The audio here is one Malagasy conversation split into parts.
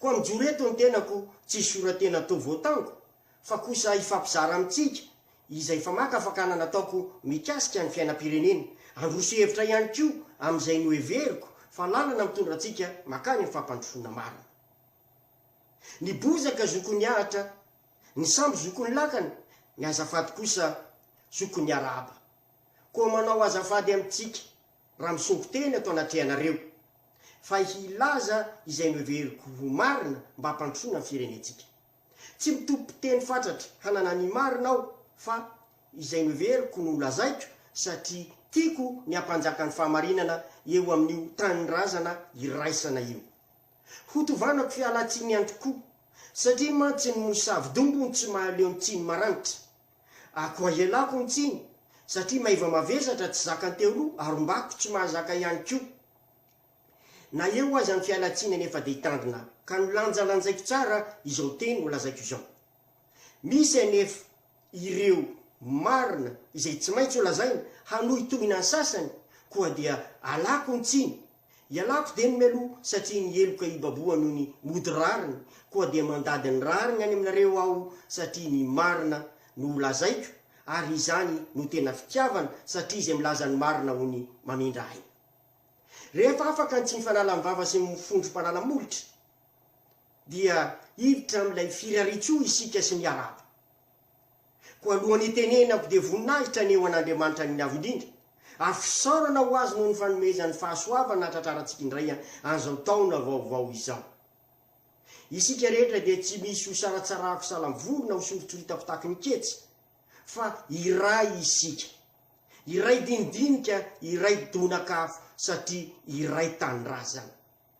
Koa mijoro eto ny tenako tsy hisora-tena atao voatango, fa kosa hifampizara amintsika izay famaka fakana nataoko mikasika ny fiainam-pirenena, handroso hevitra ihany koa amin'izay noheveriko fa lalana mitondra antsika makany amin'ny fampandrosoana marina. Ny bozaka zokon'ny ahitra, ny sambo zokon'ny lakana, ny azafady kosa zokon'ny arahaba. Koa manao azafady amintsika raha misongo tena eto anatrehanareo, fa hilaza izay noheveriko ho marina mba hampandrosoana ny firenentsika. Tsy mitopi-piteny fatratra hanana ny marina aho, fa izay noheveriko no holazaiko, satria tiako ny hampanjaka ny fahamarinana eo amin'io tanindrazana iraisana io. Hotovanako fialantsiny ihany koa, satria mantsy ny mosavy dombony tsy mahaleo ny tsiny maranitra. Akoa ialako ny tsiny satria maiva mavesatra tsy zakan'ny teoloha ary ombako tsy mahazaka ihany koa. Na eo aza ny fialan-tsiny anefa dia hitandrina aho ka nolanjalanjaiko tsara izao teny holazaiko izao. Misy anefa ireo marina izay tsy maintsy holazaina hanohitohina ny sasany koa dia alako ny tsiny. Ialako dieny mialoha satria ny heloka hibaboha noho ny mody rariny, koa dia mandady ny rariny any aminareo aho satria ny marina no ho lazaiko, ary izany no tena fitiavana satria izay milaza ny marina hono mamindra aina. Rehefa afaka ny tsy mifanala ny vava sy ny mifondro mpanala molotra dia hiditra amin'ilay firarian-tsoa isika sy miarahaba. Koa alohan'ny hitenenany aho dia voninahitra anie ho an'Andriamanitra ny Avo Indrindra, ary fisaorana ho Azy noho ny fanomezany fahasoavana hahatratrarantsika indray an'izao taona vaovao izao. Isika rehetra dia tsy misy hosaratsarahako salam-voly na hosoritsoritako tahaky ny ketsy, fa iray isika, iray dinidinika, iray donak'afo, satria iray tanindrazana.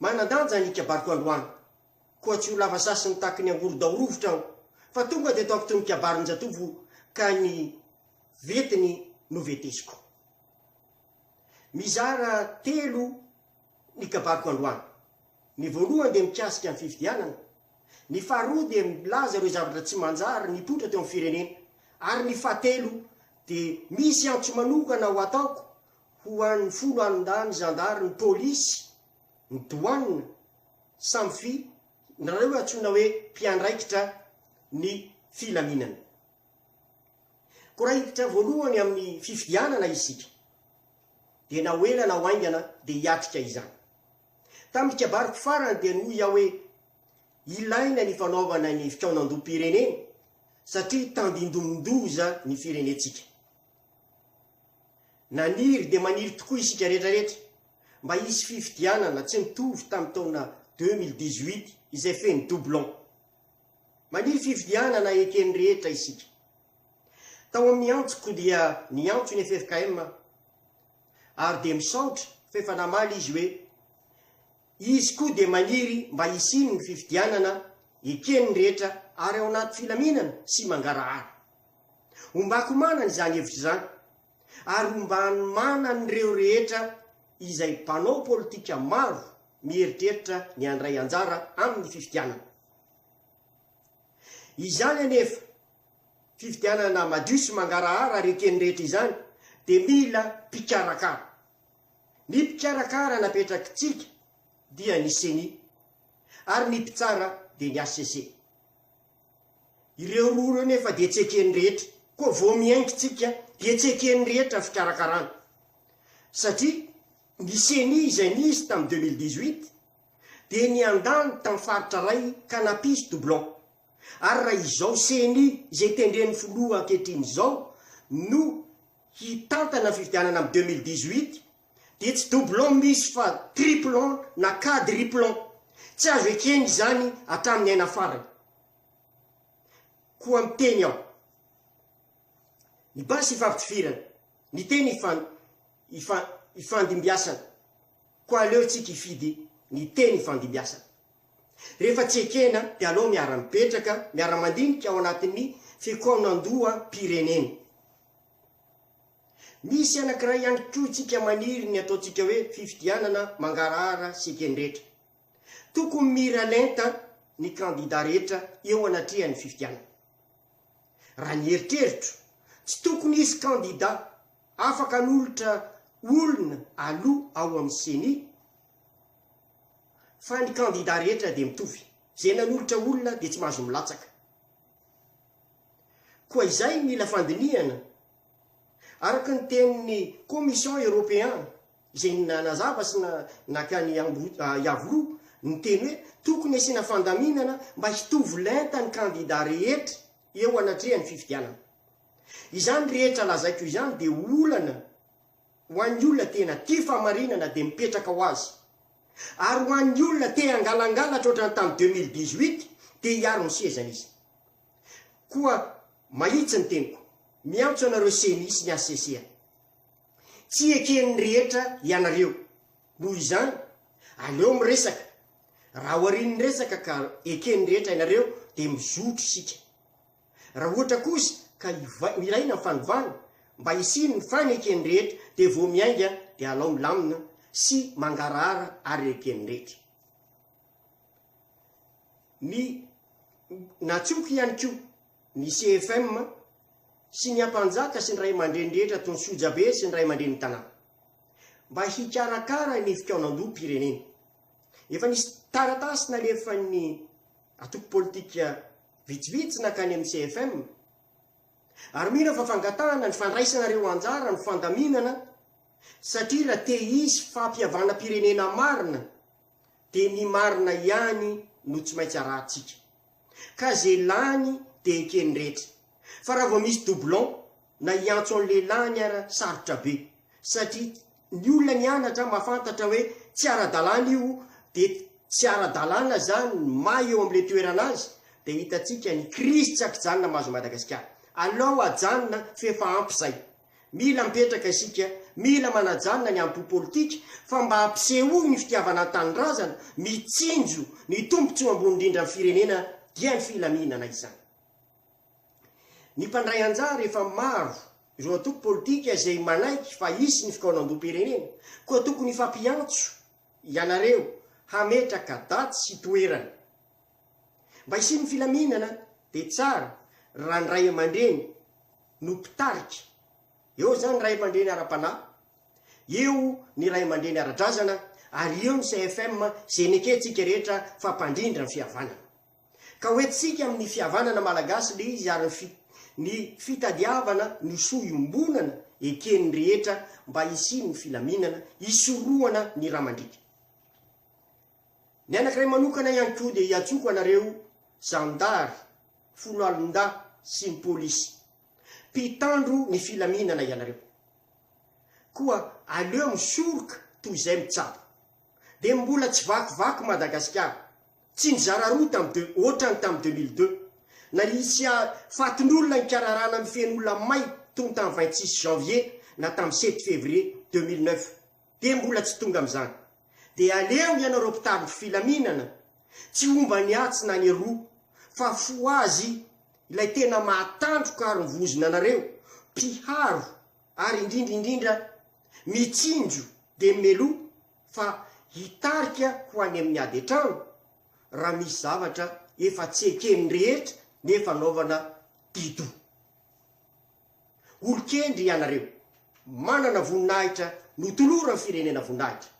Manan-danja ny kabariko androany. Koa tsy ho lava sasiny tahaky ny angorodao rovitra aho, fa tonga dia ataoko toy ny kabarin-jatovo ka ny vetiny no vetesiko. Mizara telo ny kabariko androany. Ny voalohany dia mikasika ny fifidianana, ny faharoa dia milaza ireo zavatra tsy manjary nipoitra teo amin'ny firenena ary ny fahatelo dia misy antso manokana ho ataoko ho an'ny folo andahy ny zandary, ny polisy, ny douane, samy fi, ndrareo antsoina hoe mpiandraikitra ny filaminana. Ko raha hiditra voalohany amin'ny fifidianana isika dia na ho ela na ho aingana dia hiatrika izany. Tamin'ny kabariko farany dia noho iah hoe ilaina ny fanaovana ny fikaonandoham-pirenena satria tandindomin-doza ny firenentsika. Naniry dia maniry tokoa isika rehetra rehetra mba hisy fifidianana tsy nitovy tamin'ny taona deux mille dix huit izay feno doublon. Maniry fifidianana eken'ny rehetra isika. Tao amin'ny antsoko dia niantso ny ffkm aho ary dia misaotra fa efa namaly izy hoe Izy koa dia maniry mba hisiany ny fifidianana eken'ny rehetra ary ao anaty filaminana sy mangarahara. Hombako manana izany hevitra izany ary hombany manan'ireo rehetra izay mpanao politika maro mieritreritra ny handray anjara amin'ny fifidianana izany anefa. Fifidianana madio sy mangarahara ary eken'ny rehetra izany dia mila mpikarakara. Ny mpikarakara napetrak'i Tsiky dia ny Ceni ary ny mpitsara dia ny hcc. Ireo roa ireo nefa dia tsy eken'ny rehetra, koa vao mihaingo Tsiky dia tsy eken'ny rehetra fikarakarana satria ny Ceni izay nisy tamin'ny deux mille dix-huit dia niandany tamin'ny faritra iray ka nampisy doublon ary raha izao Ceni izay tendren'ny filoha ankehitriny izao no hitantana ny fifidianana amin'ny deux mille dix-huit dia tsy doublon misy fa triplon na quadriplon. Tsy azo ekena izany hatramin'ny aina farany. Koa miteny aho. Ny basy ifampitifirana, ny teny ifan ifa ifandimbiasana. Koa aleontsika hifidy ny teny ifandimbiasana. Rehefa tsy ekena dia aleo miara-mipetraka, miara-mandinika ao anatin'ny fikaonandoham-pirenena. Misy anankiray ihany koa isika maniry ny ataontsika hoe fifidianana mangarahara sy ekendretra. Tokony miralenta ny kandida rehetra eo anatrehan'ny fifidianana. Raha ny eritreritro, tsy tokony hisy kandida afaka hanolotra olona aloa ao amin'ny ceni fa ny kandida rehetra dia mitovy. Izay nanolotra olona dia tsy mahazo milatsaka. Koa izay mila fandinihana, araka ny tenin'ny Commission Européen izay nanazava sy naka ny Yavru niteny hoe tokony asiana fandaminana mba hitovy lenta ny kandida rehetra eo anatrehan'ny fifidianana. Izany rehetra lazaiko izany dia olana. Ho an'ny olona tena tia fahamarinana dia mipetraka ho azy. Ary ho an'ny olona te hangalangalatra ohatran'ny tamin'ny deux mille dix huit dia hiaro ny sezany izy. Koa mahitsy ny teniko. Miantso anareo ceni sy ny hcc a. Tsy eken'ny rehetra ianareo. Noho izany, aleo miresaka. Raha aorian'ny resaka ka eken'ny rehetra ianareo dia mizotro isika. Raha ohatra kosa ka ilaina ny fanovana mba hisiany ny fanekeny rehetra dia vao miainga dia alao milamina sy mangarahara ary ekeny rehetra. Ny Natsoiko ihany koa ny CFM sy ny Ampanjaka sy ny Ray aman-dreny rehetra toy ny Sojabe sy ny Ray aman-drenin'ny Tanàna mba hikarakara ny fikaonandoham-pirenena. Efa nisy taratasy nalefan'ny Antoko Politika. Vitsivitsy nankany amin'ny CFM ary mino aho fa fangatahana ny fandraisana ireo anjara ny fandaminana satria raha te hisy fampihavanam-pirenena marina dia ny marina ihany no tsy maintsy arahantsika ka izay lany dia eken'ny rehetra fa raha vao misy doublon na hiantso an'ilay lany ara sarotra be satria Ny olona nianatra mahafantatra hoe tsy ara-dalàna io dia tsy ara-dalàna izany ny maha eo amin'ilay toerana azy dia hitantsika ny krizy tsy akijanona mahazo Madagasikara. Alao hajanona f'efa ampy izay. Mila mipetraka isika, mila manajanona ny ampo politika fa mba hampisehoy ny fitiavana ny tanindrazana, mitsinjo ny tombotsoa ambony indrindra ny firenena dia ny filaminana izany. Ny mpandray anjara efa maro ireo antoko politika izay manaiky fa hisy ny fikaonandoham-pirenena, koa tokony hifampiantso ianareo hametraka daty sy toerana mba hisian'ny filaminana dia tsara raha ny ray aman-dreny no mpitarika, eo izany ray aman-dreny ara-panahy, eo ny ray aman-dreny ara-drazana ary eo ny CFM izay nekentsika rehetra fa mpandrindra ny fihavanana. Ka hoe tsika amin' ny fihavanana malagasy le izy ary ny ny fitadiavana ny soa iombonana eken' ny rehetra mba hisian' ny filaminana, hisorohana ny ra mandriaka. Ny anankiray manokana ihany koa dia hiantsoko anareo zandary, foloalindahy sy ny polisy. Mpitandro ny filaminana ianareo. Koa aleo misoroka toy izay mitsabo. Dia mbola tsy vakivaky Madagasikara. Tsy nizara roa tamin'ny deux, ohatrany tamin'ny deux mille deux. Na hisy fatin'olona nikararana mifehy olona may tony tamin'ny vingt six janvier na tamin'ny sept février deux mille neuf dia mbola tsy tonga amin'izany. Dia aleo ny anareo mpitariky filaminana tsy homba ny atsy na ny aroa fa fohazy ilay tena mahatandroka ary mivozona anareo, mpiharo ary indrindra indrindra mitsinjo dia mimeloha. fa hitarika ho any amin'ny ady an-trano raha misy zavatra efa tsy eken'ny rehetra nefa anaovana dido. Olon-kendry ianareo, manana voninahitra notoloran'ny firenena voninahitra,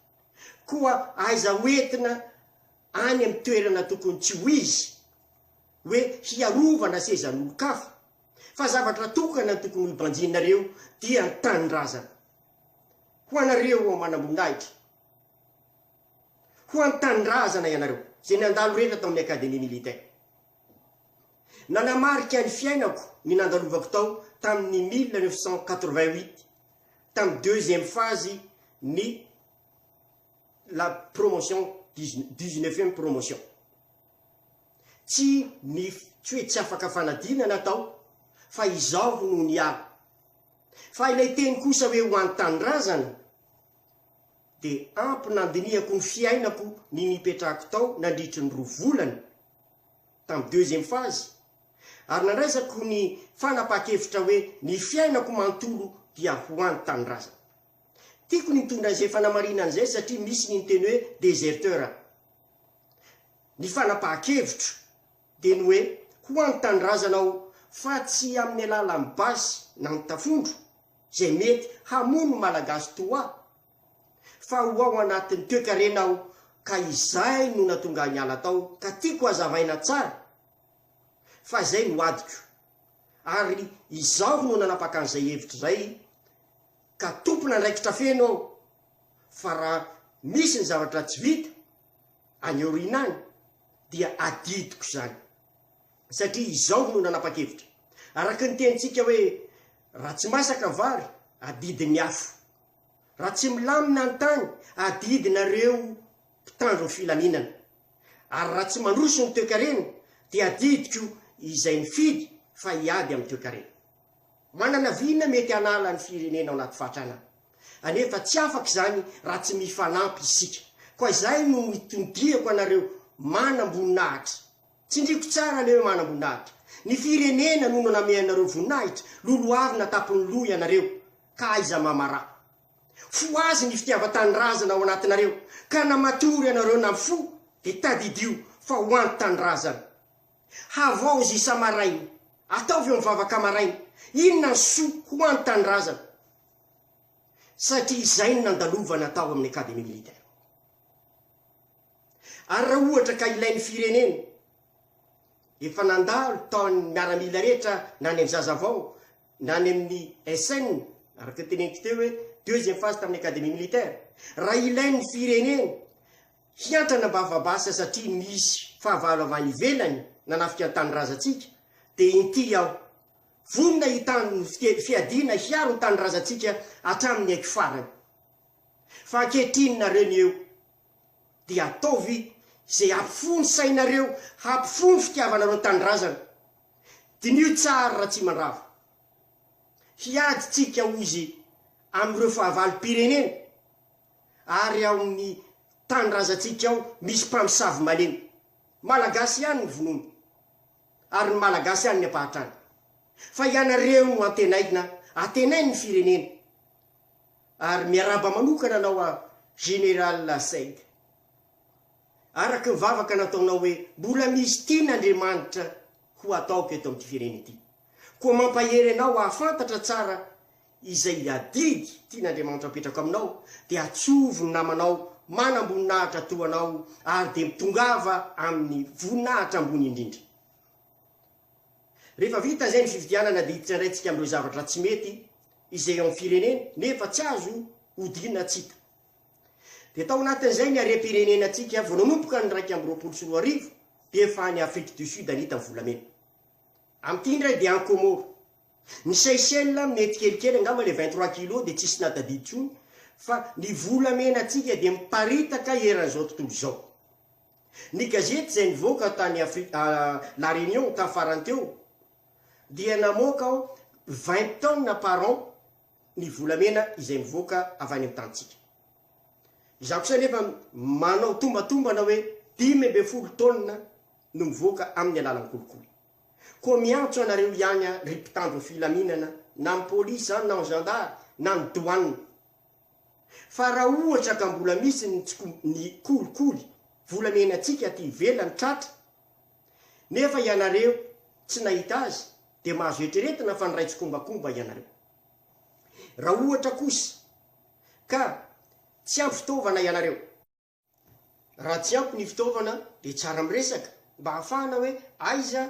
koa aiza ho entina any amin'ny toerana tokony tsy ho izy hoe hiarovana sezan'olon-kafa, fa zavatra tokana ny tokony ho banjinareo dia ny tanindrazana. Ho anareo ao manamboninahitra, ho an'ny tanindrazana ianareo, izay nandalo rehetra tao amin'ny Académie Militaire. Nanamarika ny fiainako ny nandalovako tao tamin'ny mille neuf cent quatre-vingt-huit, tamin'ny deuxième phase ny la promotion dix-neuvième promotion. Tsy ny tsy hoe tsy afaka fanadinana tao fa izaho no niala. Fa ilay teny kosa hoe ho an'ny tanindrazana dia ampy nandinihako ny fiainako ny nipetrahako tao nandritry ny roa volana tamin'ny deuxième phase ary nandraisako ny fanapahan-kevitra hoe ny fiainako manontolo dia ho an'ny tanindrazana. Tiako ny nitondra izay fanamarinana izay satria misy ny niteny hoe déserteur. Ny fanapahan-kevitro. dia ny hoe ho an-tandrazana ao fa tsy amin'ny alalan'ny basy na ny tafondro izay mety hamono ny Malagasy toa ahy fa ho ao anatin'ny toekarena aho ka izay no natonga ahy niala tao ka tiako hazavaina tsara fa izay no adiko ary izaho no nanapaka an'izay hevitra izay ka tompon'andraikitra feno aho fa raha misy ny zavatra tsy vita any aoriana any dia adidiko izany satria izao no nanapa-kevitra. Araka ny tenintsika hoe raha tsy masaka vary, adidin'ny afo. Raha tsy milamina ny tany, adidinareo mpitandro ny filaminana. Ary raha tsy mandroso ny toekarena, dia adidiko izay mifidy fa hiady amin'ny toekarena. Manana vina mety hanala ny firenena ao anaty fahantrana anefa tsy afaka izany raha tsy mifanampy isika. Koa izay no itondriako anareo manamboninahitra. Tsindriako tsara anareo manamboninahitra. Ny firenena no nameanareo voninahitra, lolohavina tampon'ny loha ianareo ka aiza mamarà. Fohazy ny fitiavan-tanindrazana ao anatinareo ka na matory ianareo na mifoha dia tadidio fa ho antanindrazana. Havaozy isa-maraina. Ataovy eo mivavaka maraina. Inona ny soa ho an tanindrazana? Satria izay no nandalovana tao amin'ny Académie Militaire. Ary raha ohatra ka ilain'ny firenena, efa nandalo tao an'ny miaramila rehetra na any amin'ny Zazavao na any amin'ny SN, araka ny teneniko teo hoe deuxième phase tamin'ny Académie Militaire. Raha ilain'ny firenena, hiantrana am-bavabasy satria misy fahavalo avy any ivelany nanafika ny tanindrazantsika dia inty aho vonona hitandro ny fiteny fiadiana hiaro ny tanindrazantsika hatramin'ny aiko farany fa ankehitriny nareo ny eo dia ataovy izay hampifono sainareo hampifono fitiavanareo ny tanindrazana diniho tsara Ratsimandrava hiady tsika hozy amin'ireo fahavalom-pirenena ary ao amin'ny tanindrazantsika ao misy mpamosavy malemy. Malagasy ihany ny vonoiny, ary ny Malagasy ihany ny ampahantrany. Fa ianareo no antenaina, antenain'ny firenena. Ary miarahaba manokana anao an Général Said. Araka ny vavaka nataonao hoe mbola misy tian Andriamanitra ho ataoko eto amin'ity firenena ity. Koa mampahery anao hahafantatra tsara Izay adidy tian'Andriamanitra apetrako aminao, dia atsovy ny namanao manam-boninahitra toa anao, ary dia mitongava amin'ny voninahitra ambony indrindra. Rehefa vita izay ny fifidianana, dia hiditra indray isika amin'ireo zavatra tsy mety izay ao amin'ny firenena, nefa tsy azo odiana tsy hita. Dia tao anatin'izay ny harem-pirenenantsika vao nanomboka ny iraika amby roapolo sy roa arivo, dia efa any Afrique du Sud ny hita ny volamena. Amin'ity indray dia any Comores, Ny Seychelles mety kelikely angamba le vingt trois kilos dia tsisy nahatadidy tsony fa ny volamena tsika dia miparitaka eran'izao tontolo izao. Ny gazety izay nivoaka tany Afri a La Réunion tany farany teo dia namoaka ao vingt tonnes par an ny volamena izay mivoaka avy any amin'ny tanintsika. Izaho kosa anefa manao tombantombana hoe dimy ambin'ny folo tonnes no mivoaka amin'ny alalan'ny kolikoly. Koa miantso anareo ihany aho ry mpitandro filaminana na ny polisy izany na ny zandary na ny douane fa raha ohatra ka mbola misy ny tsy ny kolikoly volamenantsika aty ivelany tratra nefa ianareo tsy nahita azy dia mahazo eritreretina fa niray tsikombakomba ianareo. Raha ohatra kosa ka tsy ampy fitaovana ianareo. Raha tsy ampy ny fitaovana dia tsara miresaka mba hahafahana hoe aiza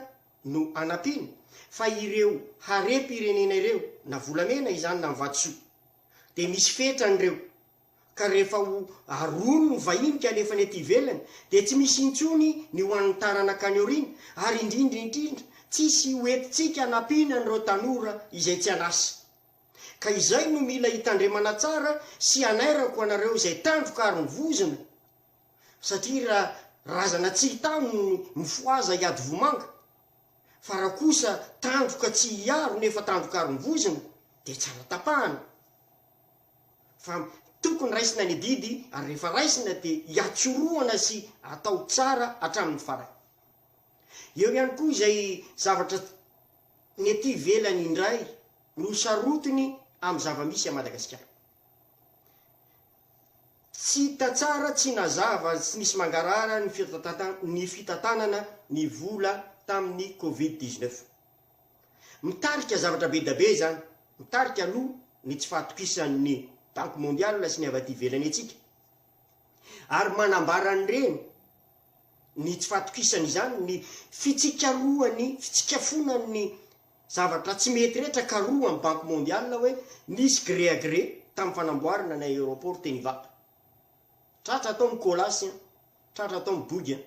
no anampiana fa ireo harem-pirenena ireo na volamena izany na ny vatosoa dia misy fetrany ireo ka rehefa ho aroany ny vahiny ka alefany aty ivelany dia tsy misy intsony ny ho an'ny taranaka any aoriana ary indrindra indrindra tsisy ho entintsika anampiana an'ireo tanora izay tsy an'asa. Ka izay no mila hitandremana tsara sy hanairako anareo izay tandroka ary mivozona satria ra razana tsy hitano ny mifohaza hiady vomanga fa ra kosa tandroka tsy hiaro nefa tandroka ary mivozona dia tsara tapahana fa tokony raisina ny adidy ary rehefa raisina dia hiatsorohana sy atao tsara hatramin'ny farany. Eo ihany koa izay zavatra ny ety ivelany indray. no sarotiny amin'ny zava-misy à Madagasikara. Tsy hita tsara, tsy nazava ary tsy nisy mangarahara ny fitantanana ny fitantanana ny vola tamin'ny Covid dix neuf. Mitarika zavatra be dia be izany, mitarika aloha ny tsy fahatokisan'ny Banque Mondiale sy ny avy aty ivelany antsika ary manambara an'ireny ny tsy fahatokisan'izany ny fitsikarohan'ny fitsikafonan'ny Zavatra tsy mety rehetra karoha am banky mondiale hoe nisy gré à gré tam fanamboarana ny aéroport teny ivato. Tratra atao ny kolasy an, tratra atao ny bogy an.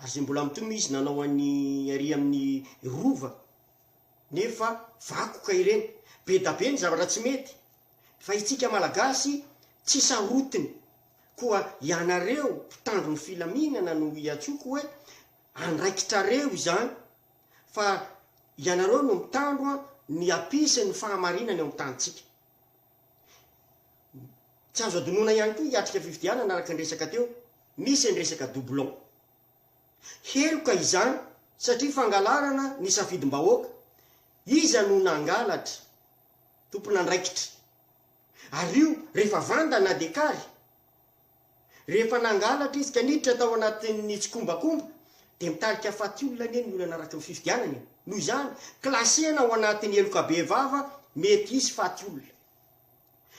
Ary zay mbola mitomy izy nanao any ary amin ny rova nefa vakoka ireny. Bedabe ny zavatra tsy mety fa itsika malagasy tsy sarotiny. Koa ianareo mpitandro ny filaminana no iantsoko hoe andraikitrareo izany. Fa ianareo no mitandro ny hapisy ny fahamarinana eo amin'ny tanintsika. Tsy azo adinoina ihany koa hiatrika fifidianana araka ny resaka teo, misy ny resaka doublon. Heloka izany satria fangalarana ny safidim-bahoaka, iza no nangalatra, tompon'andraikitra. Ary io rehefa vanda na dia kary. Rehefa nangalatra izy ka niditra tao anatin'ny tsikombakomba dia nitarika faty olona anie ny olana araka ny fifidianana e! Noho izany, classena ao anatin'ny heloka bevava mety hisy faty olona.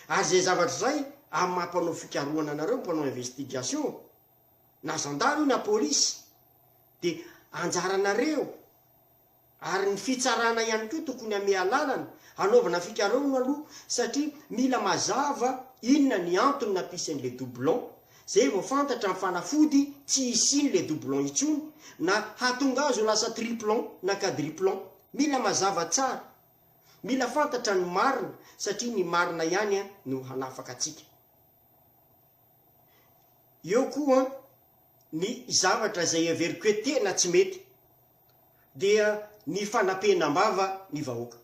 Ary izay zavatra izay amin'ny maha mpanao fikarohana anareo ny mpanao investigation, na zandary io na polisy, dia anjaranareo, Ary ny fitsarana ihany koa tokony hameha alalana hanaovana fikarohana aloha satria mila mazava inona ny antony nampisiny le doublon, zay vao fantatra ny fanafody tsy hisiany le doublon intsony na hahatonga azy ho lasa triplon na quadriplon. Mila mazava tsara. Mila fantatra ny marina satria ny marina ihany no hanafaka antsika. Eo koa ny zavatra izay heveriko hoe tena tsy mety. dia ny fanapenam-bava ny vahoaka.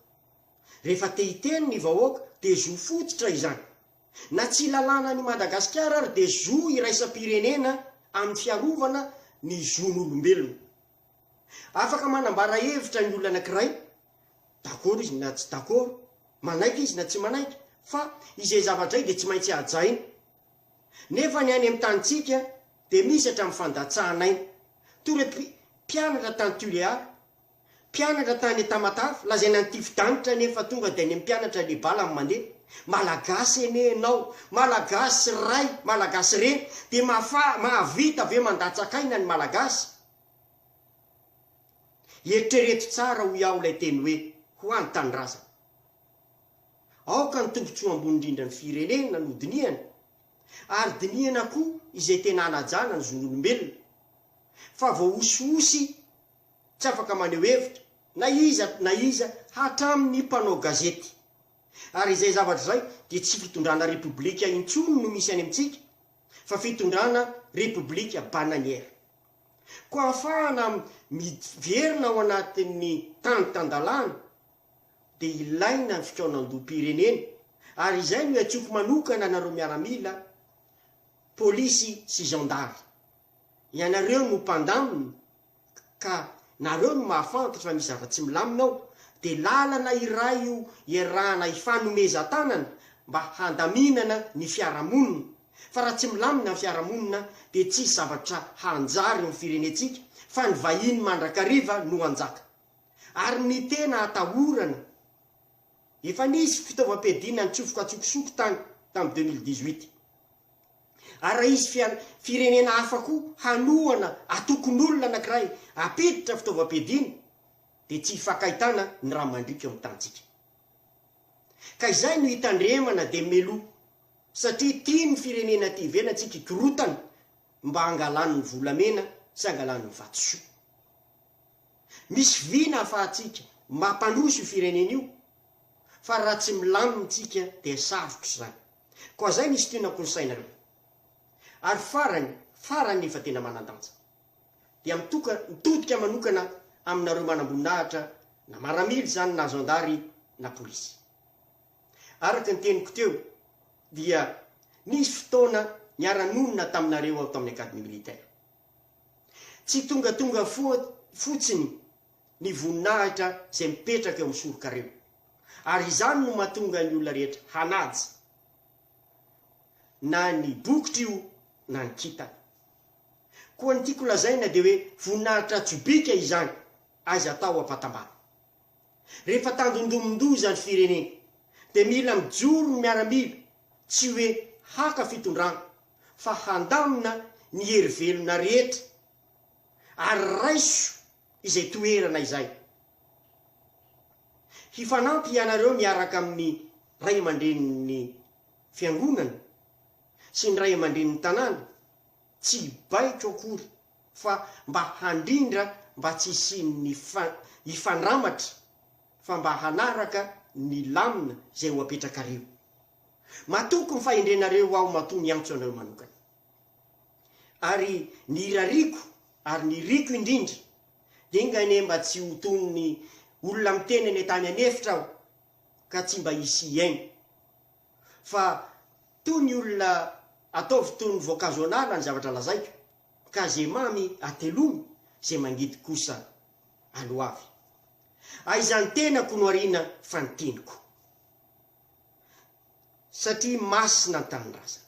Rehefa te hiteny ny vahoaka dia zo fototra izany. Na tsy lalànan' i Madagasikara ary dia zo iraisam-pirenena amin'ny fiarovana ny zon'olombelona. Afaka manambara hevitra ny olona anankiray, dakôro izy na tsy dakôro, manaiky izy na tsy manaiky, fa izay zavatra izay dia tsy maintsy hajaina. Nefa ny any amin'ny tanintsika, Dia misy hatramin'ny fandatsahanay. Toy ireo mpi, mpianatra tany Tuléar, mpianatra tany Etamatave, lazaina ny tifi-danitra anie fa tonga dia any amin'ny mpianatra ilay bala no mandeha. Malagasy anie ianao, Malagasy ray, Malagasy reny, dia mahafa, mahavita ve mandatsak'aina ny Malagasy? Eritrereto tsara hoy aho ilay teny hoe, ho any tanindrazana. Aoka ny tombotsoa ambony indrindra ny firenena no dinihana, ary dinihana koa izay tena hanajana ny zon'olombelona fa voahosihosy tsy afaka maneho hevitra na iza na iza hatramin'ny mpanao gazety. Ary izay zavatra izay dia tsy fitondrana repoblika intsony no misy any amintsika fa fitondrana repoblika bananiera. Koa hafahana miverina ao anatin'ny tany tan-dalàna dia ilaina ny fikaonandoham-pirenena ary izay no iantsoako manokana anareo miaramila, polisy sy zandary. Ianareo no mpandamina ka nareo no mahafantatra raha misy zava-tsy milamina ao dia lalana iray io iarahana hifanomezan-tanana mba handaminana ny fiarahamonina fa raha tsy milamina ny fiarahamonina dia tsisy zavatra hanjary ny firenentsika fa ny vahiny mandrakariva no hanjaka. Ary ny tena atahorana, efa nisy fitaovam-piadiana nitsofoka an-tsokosoko tany tamin'ny deux mille dix-huit. Ary raha hisy fian, firenena hafa koa hanohana atokon'olona anankiray hampiditra fitaovam-piadiana, dia tsy hifankaitana ny rà mandriaka eo amin'ny tanintsika. Ka izay no hitandremana dia mialoha, satria tian'ny firenena aty ivelany tsika hikorotana mba hangalany ny volamena sy hangalany ny vatosoa. Misy vy ny ahafahantsika mampandroso io firenena io fa raha tsy milamina ntsika dia sarotra izany. Koa izay misy tiana konsaina aloha. Ary farany farany nefa tena manandanja. Dia mitoka mitodika manokana aminareo manamboninahitra na maramily izany na zandary na polisy. Araka ny teniko teo dia nisy fotoana niara-nonina taminareo aho tamin'ny academy militaire. Tsy tongatonga fotsiny ny voninahitra izay mipetraka eo amin'ny sorokareo, ary izany no mahatonga ny olona rehetra hanaja na ny bokitra io na ny kintana. Koa ny tiako lazaina dia hoe voninahitra tsobika izany, aiza atao ampatambana. Rehefa tandindomin-doza ny firenena dia mila mijoro ny miaramila tsy hoe haka fitondrana fa handamina ny hery velona rehetra ary raiso izay toerana izay. Hifanampy hianareo miaraka amin'ny ray aman-drenin'ny fiangonana sy ny ray aman-drenin'ny tanàna tsy hibaiko akory fa mba handrindra mba tsy hisian'ny hifandramatra fa mba hanaraka ny lamina izay ho apetrakareo. Matoky ny fahendrenareo aho matoa miantso anareo manokana. Ary ny irariako ary ny iriko indrindra dia enga anie mba tsy ho toy ny olona miteny any an-tany an'efitra aho ka tsy mba hisy hihaino. fa toa ny olona ataovy toa ny voankazo an'ala ny zavatra lazaiko, ka ze mamy atelomy, ze mangidy kosa aloavy. Aiza ny tenako no ariana fa ny teniko, satria masina ny tanindrazana.